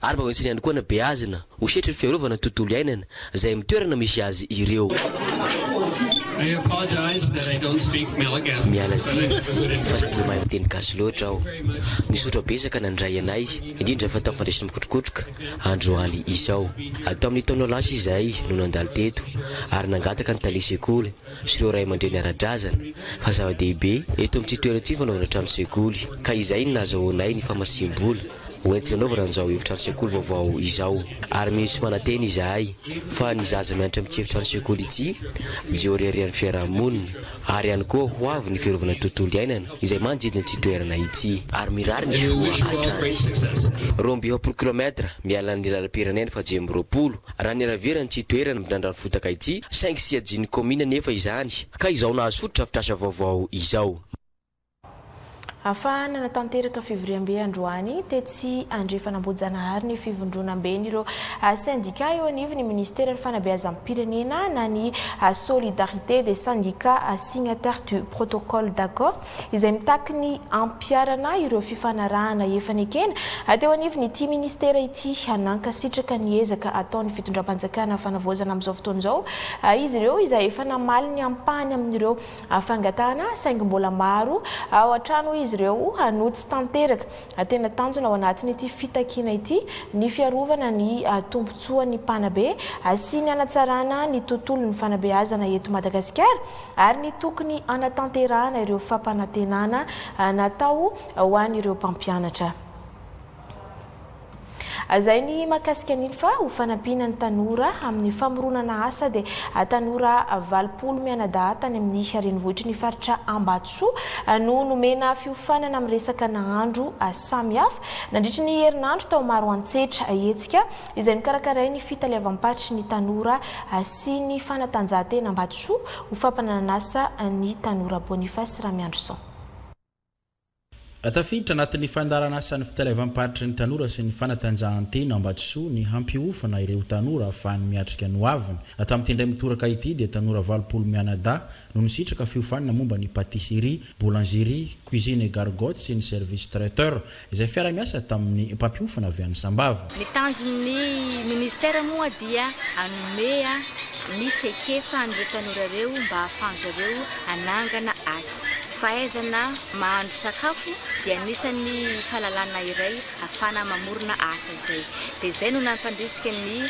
ary mba hoentiny ihany koa anabeazina ho sehatry ny fiarovana ny tontolo iainana izay amin'ny toerana misy azy ireo. Miala tsiny fa tsy dia mahay miteny gasy loatra aho. Misaotra betsaka nandray anay, indrindra fa tamin'ny fandraisana mikotrokotroka andro aly izao. Tamin'ny taona lasa izahay no nandalo teto ary nangataka ny tale sekoly sy ireo ray aman-dreny ara-drazana fa zava-dehibe eto amin'ity toerana ity ny fanaovana trano sekoly ka izay no nahazahoanay ny famatsiam-bola ho entina anaovana an'izao efitrano sekoly vaovao izao ary mino sy manantena izahay fa ny zaza mianatra amin'ity efitrano sekoly ity dia oriarian'ny fiaraha-monina ary ihany koa ho avy ny fiarovana ny tontolo iainana izay manodidina ity toerana ity ary mirary ny soa hatrany roa amby efapolo kilomètre miala ny lalam-pirenena fahadimy amby roapolo Raha ny Aravera no tsy toerana midrandra ny fotaka ity, saingy siajin'ny kaomina anefa izany, ka izao nahazo fotodrafitrasa vaovao izao. Afahana natanteraka fivoriambe androany, tetsy Andrefan'Ambohijanahary ny fivondronamben'ireo sendika eo anivon'ny Ministeran'ny Fanabeazam-pirenena na ny Solidarité des Syndicats Signataires du Protocole d'accord izay mitaky ny hampiharana ireo fifanarahana efa nekena teo anivon'ity ministera ity. Nankasitraka ny ezaka ataon'ny fitondram-panjakana fanavaozana amin'izao fotoana izao izy ireo, izay efa namaly ny ampahany amin'ireo fangatahana, saingy mbola maro ao an-trano hoy izy ireo no tsy tanteraka. Tena tanjona ao anatin'ity fitakiana ity ny fiarovana ny tombontsoan'ny mpanabe sy ny hanatsarana ny tontolon'ny fanabeazana eto Madagasikara, ary ny tokony hanatanterahana ireo fampanantenana natao ho an'ireo mpampianatra. Hazainy mahakasika an'iny fa ho fanampiana ny tanora amin'ny famoronana asa dia tanora valopolo mianadahy tany amin'ny renivohitry ny faritra Ambatosoa no nomena fiofanana miresaka nahandro samihafa nandritry ny herinandro tao Maroantsetra hetsika izay mikarakaray ny fitaleavam-paritry ny tanora sy ny fanatanjahantena Ambatosoa ho fampananan'asa ny tanora Boniface Ramiandrison. Tafiditra anatin'ny fandaharan'asan'ny fitaleavam-paritry ny tanora sy ny fanatanjahantena Ambatosoa ny hampiofana ireo tanora afahany miatrika ny hoaviny. Tamin'ity indray mitoraka ity dia tanora valopolo mianadahy no nisitraka fiofanana momba ny pâtisserie, boulangerie, cuisine et gargote sy ny service traiteur, izay fiara-miasa tamin'ny mpampiofana avy any Sambava. Ny tanjon'ny Ministera moa dia hanome ny traikefa an'ireo tanora ireo mba hahafahan-dry zareo hanangana asa. Fahaizana mahandro sakafo dia anisan'ny fahalalana iray hafana mamorona asa izay. Dia izay no nampandrisika ny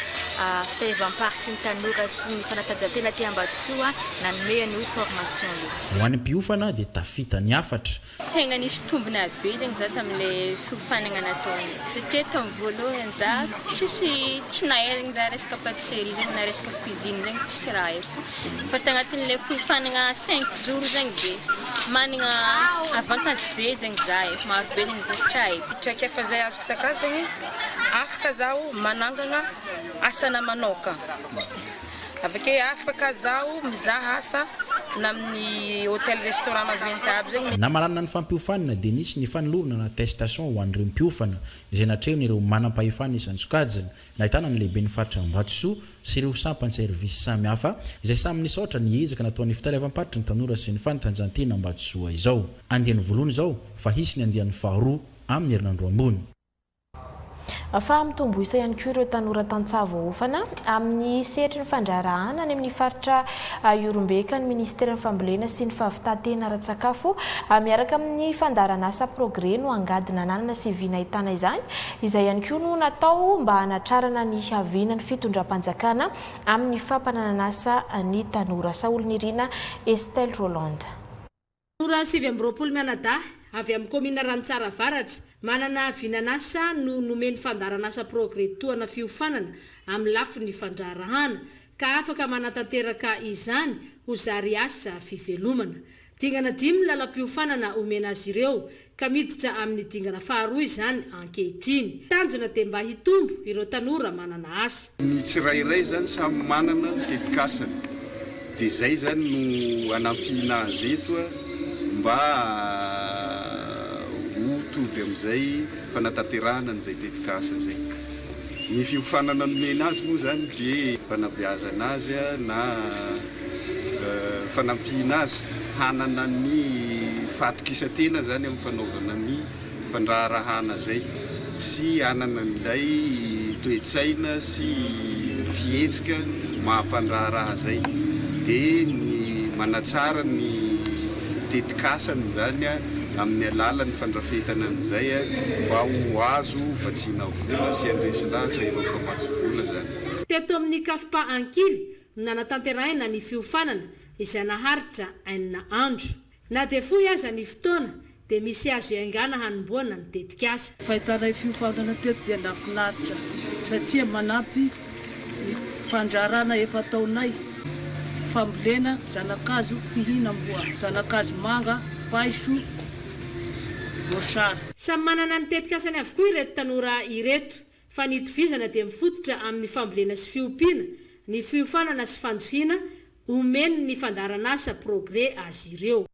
fitaevam-paritry ny tanora sy ny fanatanjahantena aty Ambatosoa nanome an'io formation io. Ho an'ny mpiofana dia tafita ny hafatra. Tegna nisy tombona be zegny za tamle fiofanagna nataony satria tam voalohany za tsisy tsy naherigny za resaka patisserie zegny na resaka cuisine zegny tsisy raha haiko Fa tagnatin'ilay fiofanagna cinq jours zegny de managna avantage be zegny za e, maro be zegny zavatra aiko. Traikefa zay azoko takazo zegny, afaka zaho manangagna asana manaoka, avake afaka ka zaho mizaha asa na amin'ny hotel restaurant maventy aby zegny. Namaranana ny fampiofanana dia nisy ny fanolorana na attestation ho an'ireo mpiofana izay natrehon'ireo manampahefana isan'ny sokajiny Nahitana ny lehiben'ny faritra Ambatosoa sy ireo sampan'ny servisy samihafa, izay samy nisaotra ny ezaka nataon'ny fitaleavam-paritry ny tanora sy ny fanatanjahantena Ambatosoa izao. Andiany voalohany izao fa hisy ny andiany faharoa amin'ny herinandro ambony. Ahafaha-mitombo isa ihany koa ireo tanora tantsaha voaofana amin'ny sehatry ny fandraharahàna any amin'ny faritra Ihorombeca ny minisiteran'ny Fambolena sy ny fahavitàn-tena ara-tsakafo, miaraka amin'ny fandaharanasa Progrès no angady nananana sy vy nahitana izany Izay ihany koa no natao mba hanatrarana ny havianan'ny fitondram-panjakana amin'ny fampananan'asa ny tanora. Saholinirina Estelle Rolland. Tanora sivy amby roapolo mianadahy avy amin'ny kaominina Ranitsara Avaratra, manana vinan'asa no nomen'ny fandaharan'asa Progrès tohana fiofanana amin'ny lafiny fandraharahàna, ka afaka manatanteraka izany ho zary asa fivelomana. Dingana dimy ny lalam-piofanana omena azy ireo ka miditra amin'ny dingana faharoa izany ankehitriny. Tanjona dia mba hitombo ireo tanora manana asa. Ny tsirairay izany samy manana ny tetikasany dia izay izany no hanampiana azy eto mba ho tody amin'izay fanatanterahana an'izay tetikasa izay. Ny fiofanana nomena azy moa izany dia fanabeazana azy na fanampiana azy hanana ny fahatokisan-tena izany amin'ny fanaovana ny fandraharahana izay sy hanana an'ilay toe-tsaina sy fihetsika maha-mpandraharaha izay dia ny manatsara ny tetikasany izany amin'ny alalan'ny fandrafetana an'izay mba ho azo vatsiana vola sy handresy lahatra ireo mpamatsy vola izany. Teto amin'ny Cafpa Ankily, Nanatanterahina ny fiofanana izay naharitra enina andro. Na dia fohy aza ny fotoana dia misy azo iaingàna hanombohana ny tetikasa. Fahitanay fiofanana teto dia nafinaritra satria manampy ny fandraràna efa ataonay fambolena zanakazo fihinam-boa, zanakazo manga, paiso, voasary. Samy manana ny tetikasany avokoa ireto tanora ireto. fa ny itovizana dia mifototra amin'ny fambolena sy fiompiana, ny fiofanana sy fanjohiana omen' ny fandaharanasa Progrès azy ireo.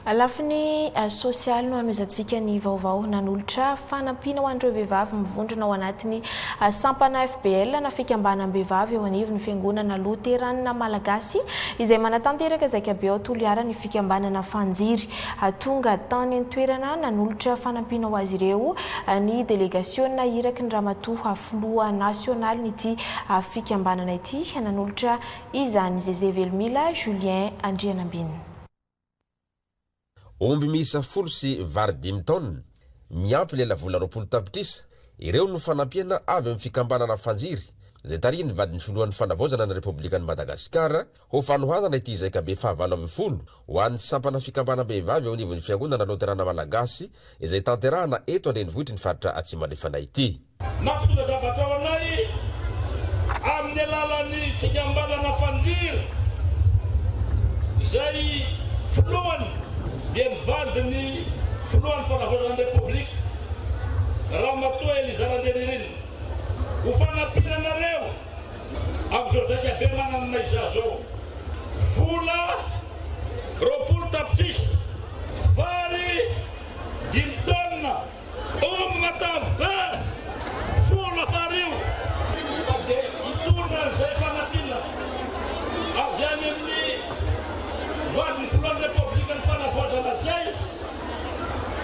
Lafiny sosialy no hanomezantsika ny vaovao nanolotra fanampiana ho an'ireo vehivavy mivondrona ao anatin'ny sampana FBL na fikambanam-behivavy eo anivon'ny Fiangonana Loteranina Malagasy izay manatanteraka zaikabe ao Toliara ny fikambanana Fanjiry Tonga tany an-toerana nanolotra fanampiana ho azy ireo ny delegasiona iraky ny Ramatoa Filoha Nasionalin'ity fikambanana ity nanolotra izany, Zeze Velomila, Julien Andrianambinina. Omby miisa folo sy vary dimy taonina, miampy lelavola roapolo tapitrisa, ireo no fanampiana avy amin'ny fikambanana Fanjiry, izay tarihin'ny vadin'ny Filohan'ny Fanavaozana ny Repoblikan'i Madagasikara, Ho fanohanana ity zaikabe fahavalo ambin'ny folo ho an'ny sampana fikambanam-behivavy eo anivon'ny Fiangonana Loterana Malagasy izay tanterahana eto an-drenivohitry ny faritra Atsimo Andrefana ity. Nampitondra zavatra ho anay amin'ny alalan'ny fikambanana Fanjiry izay filohany dia ny vadin'ny filohan'ny fanavaozana ny Repoblika, Ramatoa Eliza Randrianirina. Ho fanampiana anareo. Amin'izao zaika be mananana izaho izao, vola roapolo tapitrisa, vary dimy tonnes, omby matavy be, vola fariho, fa dia hitondra an'izay fanampiana avy any amin'ny vadin'ny filohan'ny Repoblikan'ny Fanavaozana izay,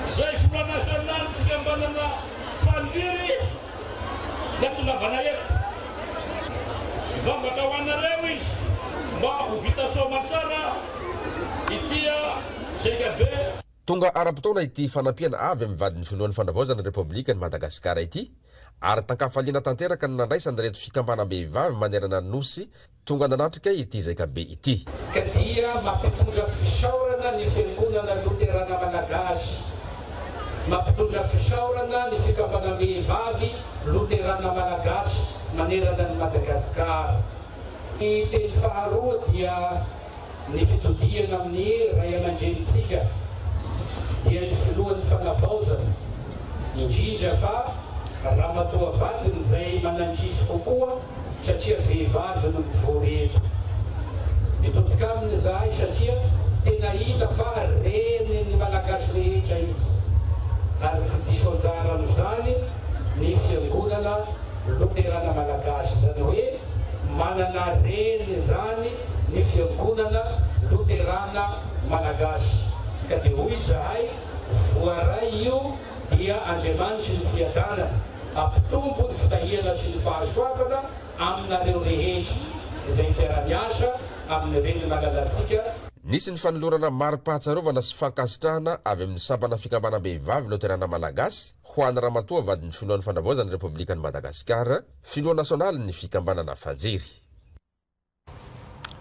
izay filoha nasionalin'ny fikambanana Faniry, dia tongavana eto. Mivavaka ho anareo izy mba ho vita soa aman-tsara ity JKV. Tonga ara-potoana ity fanampiana avy amin'ny vadin'ny Filohan'ny Fanavaozana Repoblikan'i Madagasikara ity ary tan-kafaliana tanteraka no nandraisan'ireto fikambanam-behivavy manerana ny Nosy Tonga nanatrika ity zaikabe ity. Ka dia mampitondra fisaorana ny Fiangonana Loterana Malagasy, mampitondra fisaorana ny Fikambanam-behivavy Loterana Malagasy manerana an'i Madagasikara. Ny teny faharoa dia. ny fitodihana amin'ny ray aman-drenintsika dia ny filohan'ny fanavaozana, indrindra fa ramatoa vadiny izay manandrify kokoa satria vehivavy no mivory eto. Mitodika aminy izahay satria tena hita fa renin'ny Malagasy rehetra izy ary tsy diso anjara amin'izany ny Fiangonana Loterana Malagasy, izany hoe manana reny izany ny Fiangonana Loterana Malagasy, ka dia hoy izahay, Voaray io dia Andriamanitry ny Fiadanana, hampitombo ny fitahiana sy ny fahasoavana aminareo rehetra izay mpiara-miasa amin'ny Reny malalantsika, Nisy ny fanolorana mari-pahatsiarovana sy fankasitrahana avy amin'ny Sampana Fikambanam-behivavy Loterana Malagasy ho an'i Ramatoa Vadin'ny Filohan'ny Fanavaozan'ny Repoblikan'i Madagasikara, Filoha Nasionalin'ny Fikambanana Fanjery.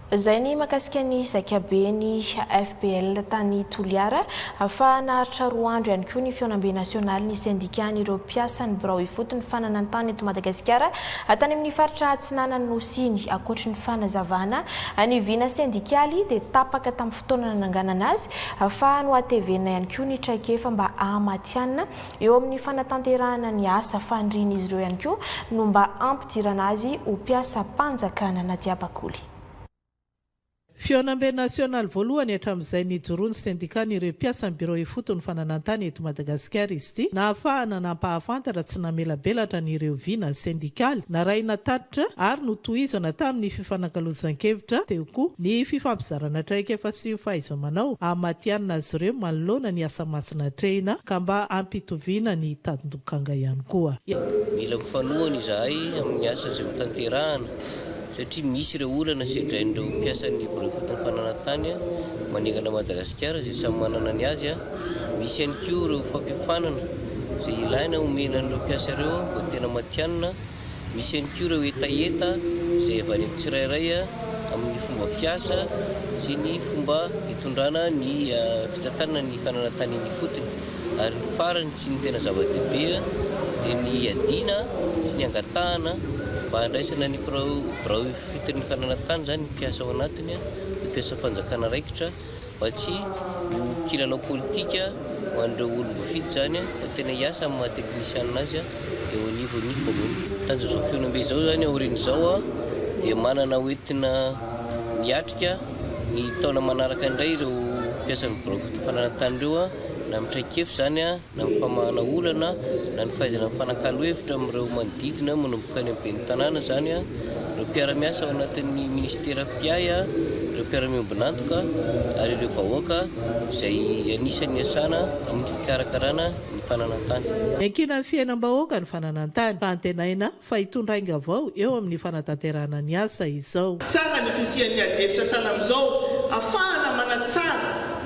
Izay ny mahakasika ny zaikaben'ny FPL tany Toliara. Fa naharitra roa andro ihany koa ny fihaonambe nasionaly ny sendikan'ireo mpiasan'ny birao ifotony fananan-tany eto Madagasikara tany amin'ny faritra atsinanan'ny Nosy iny. Ankoatry ny fanazavana ny vina sendikaly dia tapaka tamin'ny fotoana nananganana azy fa nohatevenina ihany koa ny traikefa mba hahamatihanina Eo amin'ny fanatanterahana ny asa fanirian'izy ireo ihany koa no mba hampidirana azy ho mpiasam-panjakana na dia bakoly. Fihaonambe nasionaly voalohany hatramin'izay nijoroan'ny sendikan'ireo mpiasan'ny birao ifotony fananantany eto Madagasikara izy ity, nahafahana nampahafantatra tsy namelabelatra an'ireo vina sendikaly narahina tatitra ary notohizana tamin'ny. Fifanakalozan-kevitra, teo koa, ny fifampizarana traikefa sy fahaiza-manao hamatihanina azy ireo manoloana ny asa masina atrehina ka mba hampitoviana ny tandin-dokanga ihany koa. Mila ho fanohana izahay amin'ny asa izay hotanterahana satria misy ireo olana sedrain'ireo mpiasan'ny Biro Ifotony Fananantany manerana an'i Madagasikara izay samy manana ny azy. Misy ihany koa ireo fampiofanana izay ilaina homena an'ireo mpiasa ireo mba tena matihanina. Misy ihany koa ireo hetaheta izay avy any amin'ny tsirairay amin'ny fomba fiasa sy ny fomba itondrana ny fitantanana ny fananantaniany ifotony. Ary ny farany sy ny tena zava-dehibe dia ny hiadiana sy ny hangatahana mba handraisana ny birao ifotony ny fananantany izany ny mpiasa ao anatiny, ny mpiasam-panjakana raikitra, Mba tsy ho kilalao politika ho an'ireo olom-bofidy izany fa tena hiasa amin'ny maha teknisianina azy eo anivon'ny kaominina. Tanjozao Fionombe izao izany aorian'izao dia manana hoentina miatrika ny taona manaraka indray ireo mpiasan'ny birao fananan-tany ireo na amin'ny traik'efitra izany na ny famahana olana, na ny fahaizana mifanakalo hevitra amin'ireo manodidina, manomboka any amin'ny ben'ny tanàna izany, ireo mpiara-miasa ao anatin'ny minisitera mpiahy, ireo mpiara-miombon'antoka ary ireo vahoaka izay anisan'ny iasana amin'ny fikarakarana ny fananantany. Iankinan'ny fiainam-bahoaka ny fananantany, fa antenaina fa hitondra ainga vao eo amin'ny fanatanterahana ny asa izao. Tsara ny fisian'ny adihevitra sahala amin'izao afahana manatsara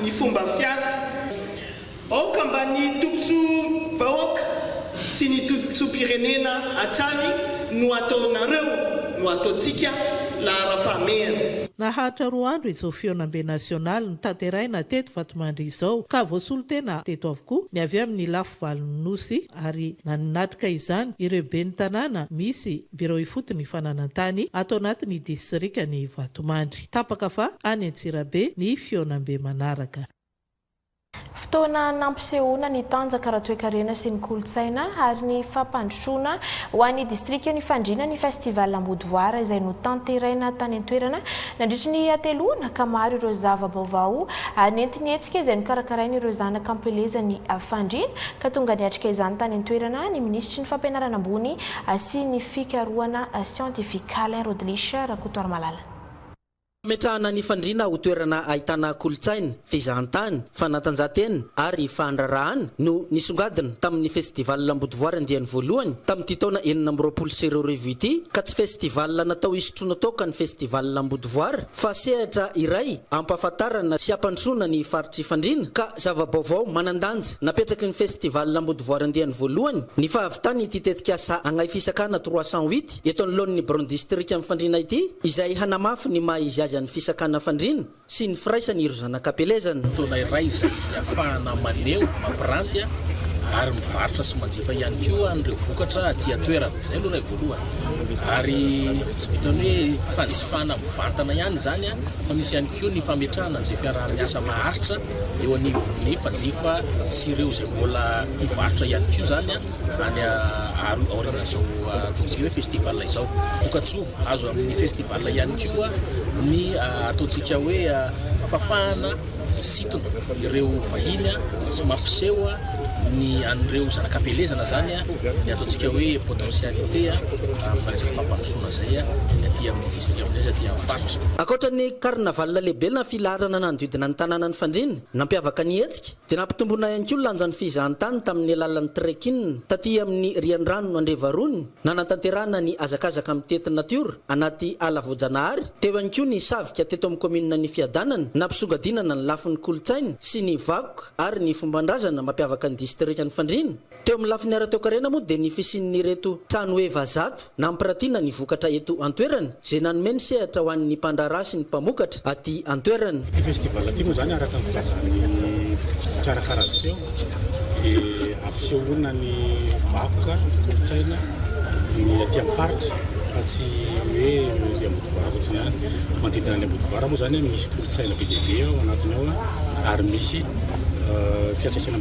ny fomba fiasa. Aoka mba ny tombontsoam-bahoaka sy ny tombontsoam-pirenena hatrany no ataonareo no ataontsika laharam-pahamehana. Naharitra roa andro izao fihaonambe nasionaly notanterahina teto Vatomandry izao ka voasolo tena teto avokoa ny avy amin'ny lafy valon'ny Nosy. ary nanatrika izany ireo ben'ny tanàna misy birao ifotony fananan-tany ato anatin'ny disirikan'i Vatomandry. Tapaka fa any Antsirabe ny fihaonambe manaraka. Fotoana nampisehoana ny tanjaka ara-toekarena sy ny kolontsaina ary ny fampandrosoana ho an'ny distrikan'Ifandriana ny Festival Ambodivoara izay notanteraina tany an-toerana Nandritry ny hateloana ka maro ireo zava-baovao nentin'ny hetsika izay nokarakarain'ireo zanaka am-pelezan'i Fandriana ka tonga niatrika izany tany an-toerana ny minisitry ny Fampianarana ambony sy ny fikarohana siantifika, Alain Rodelich Rakotoarimalala. Nametrahana an'i Fandriana ho toerana ahitana kolontsaina, fizahantany, fanatanjahantena ary fandraharahana no nisongadina tamin'ny Festival Ambodivoary andiany voalohany tamin'ity taona enina amby roapolo sy roa arivo ity ka tsy festival natao hisotroana toaka ny Festival Ambodivoary fa sehatra iray hampahafantarana sy hampandrosoana ny faritr'i Fandriana ka zava-baovao manan-danja napetraky ny Festival Ambodivoary andiany voalohany ny fahavitan'ity tetikasa Agnahy Fisakana trois cent huit eto anoloan'ny Biraon'ny Distrikan'i Fandriana ity izay hanamafy ny maha-izy azy an'i Fisakana Fandriana sy ny firaisany ireo zanak'Apelezana. Fotoana iray izay ahafahana maneho, mampiranty ary mivarotra sy manjifa ihany koa an'ireo vokatra aty an-toerana. Izay aloha ilay voalohany. Ary tsy vitan'ny hoe fanjifana mivantana ihany izany fa misy ihany koa ny fametrahana izay fiaraha-miasa maharitra eo anivon'ny mpanjifa sy ireo izay mbola mpivarotra ihany koa izany. any aorianan'izao ataontsika hoe festival izao. Vokatsoa azo amin'ny festival ihany koa ny ataontsika hoe fafahana sy sitona ireo vahiny sy mampiseho ny an'ireo zanakam-pielezana zany ny ataontsika hoe potentialité amin'ny resaka fampandrosoana izay aty amin'ny district aminay aty amin'ny faritra. Ankoatra ny carnaval lehibe na filaharana nanodidina ny tanànan'i Fanjina, nampiavaka ny hetsika, Dia nampitomboina ihany koa ny lanjan'ny fizahantany tamin'ny alalan'ny trekking taty amin'ny riandrano Andrevarony, nanatanterahana ny hazakazaka mitety natiora anaty ala voajanahary, teo ihany koa ny savika teto amin'ny kaomininan'ny Fiadanana, nampisongadinana ny lafiny kolontsaina sy ny vakoka ary ny fombandrazana mampiavaka ny distrikan'i Fandriana. Teo amin'ny lafiny ara-toekarena moa dia ny fisian'ireto trano heva zato nampirantiana ny vokatra eto an-toerana izay nanome ny sehatra ho an'ny mpandraharaha sy ny mpamokatra aty an-toerana. Ity festival ity moa izany araka ny filazan'ny mpikarakara azy teo dia hampisehoana ny vakoka, ny kolontsaina, ny aty amin'ny faritra fa tsy hoe ny Ambodovara fotsiny ihany. Manodidina an'i Ambodovara moa izany misy kolontsaina be dia be ao anatiny ao ary misy fiantraikany.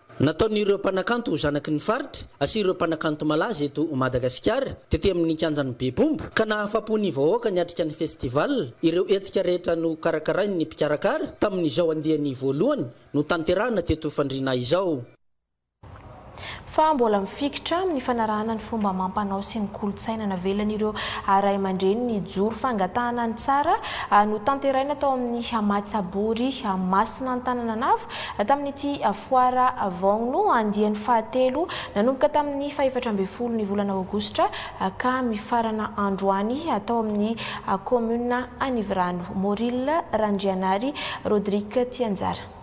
Nataon'ireo mpanakanto ho zanaky ny faritra sy ireo mpanakanto malaza eto Madagasikara, tety amin'ny kianjan'ny Bebombo, ka nahafapo ny vahoaka niatrika ny festival, ireo hetsika rehetra nokarakarain'ny mpikarakara tamin'izao andiany voalohany notanterahana teto Fandriana izao. fa mbola mifikitra amin'ny fanarahana ny fomba amam-panao sy ny kolontsaina navelan'ireo ray aman-dreny nijoro fangatahana ny tsara, notanteraina tao amin'ny Mahatsabory Masina Antanananavo, Tamin'ity foara Vong no andiany fahatelo, nanomboka tamin'ny fahefatra ambin'ny folo ny volana aogositra ka mifarana androany, atao amin'ny kaominina Anivirano. Moril Randrianary, Rodrick Tianjara.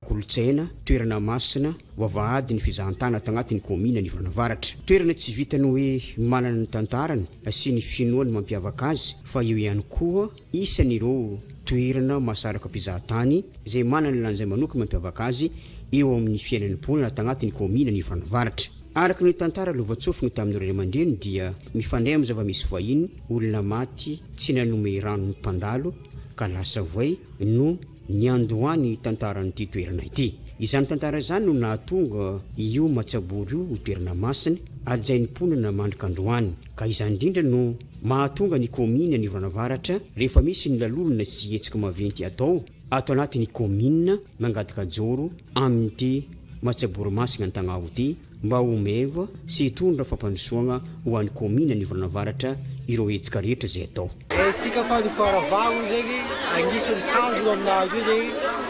Kolontsaina, toerana masina, vavahady ny fizahantany ato anatin'ny kaominina Anivirano Avaratra. Toerana tsy vitan'ny hoe manana ny tantarany sy ny finoany mampiavaka azy fa eo ihany koa Isan' ireo toerana mahasaraka mpizahatany izay manana ny lanjany manokana mampiavaka azy eo amin' ny fiainan'ny mponina ato anatin' ny kaominin' Anivon'ny Avaratra. Araka ny tantara lovantsofina tamin'ny ray aman-dreny dia mifandray amin'ny zava-misy fahiny, olona maty tsy nanome rano ny mpandalo ka lasa voay no niandohan'ny tantaran'ity toerana ity. Izany tantara izany no nahatonga io matsabory io ho toerana masina hajain'ny mponina mandrika androany ka izany indrindra no Mahatonga ny kaominina ny orana varatra rehefa misy ny lalolona sy hetsika maventy atao ato anaty ny kaominina mangataka jaoro amin'ity matsaboromasina antagnavo ity mba ho meva sy hitondra fampandrosoagna ho an'ny kaominina ny orana varatra ireo hetsika rehetra izay atao. Hetsika fanofoara vaho zegny agnisan'ny tanjona amin'ny nahazo izay.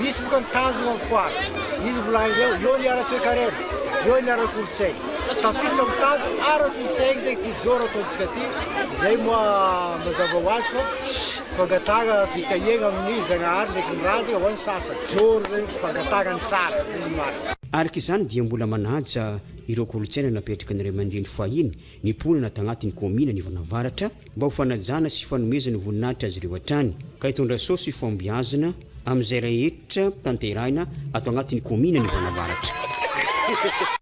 Misy boka ny tanjona amin'ny foara. Izy no volanin'ireo, eo ny ara-toekarena, eo ny ara-kolontsaina. Tafiditra amin'ny tanjona ara-kolontsaina ity kijoro ataontsika ity, izay moa mazava ho azy fa fangatahana fitahiana amin'ny Zagnahary ndraiky ny razana ho an'ny sasany. Kijoro izany hoe fangatahana ny tsara, izay no marina. Araka izany dia mbola manaja ireo kolontsaina napetraky ny ray aman-dreny fahiny ny mponina tagnatin'ny kaominina Anivon'ny Avaratra mba ho fanajana sy fanomezana voninahitra azy ireo hatrany ka hitondra soa sy fahombiazana amin'izay rehetra tanterahina ato agnatin'ny kaominina Anivon'ny Avaratra.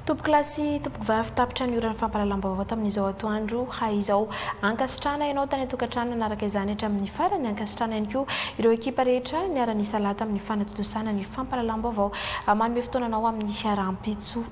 Tompoko lahy sy tompoko vavy tapitra ny oran'ny fampahalalam-baovao tamin'izao atoandro hay izao. Ankasitrahana ianao tany an-tokantrano nanaraka izany hatramin'ny farany. Ankasitrahana ihany koa ireo ekipa rehetra niara-nisalahy tamin'ny fanatontosana ny fampahalalam-baovao. Manome fotoana anao amin'ny rahampitso.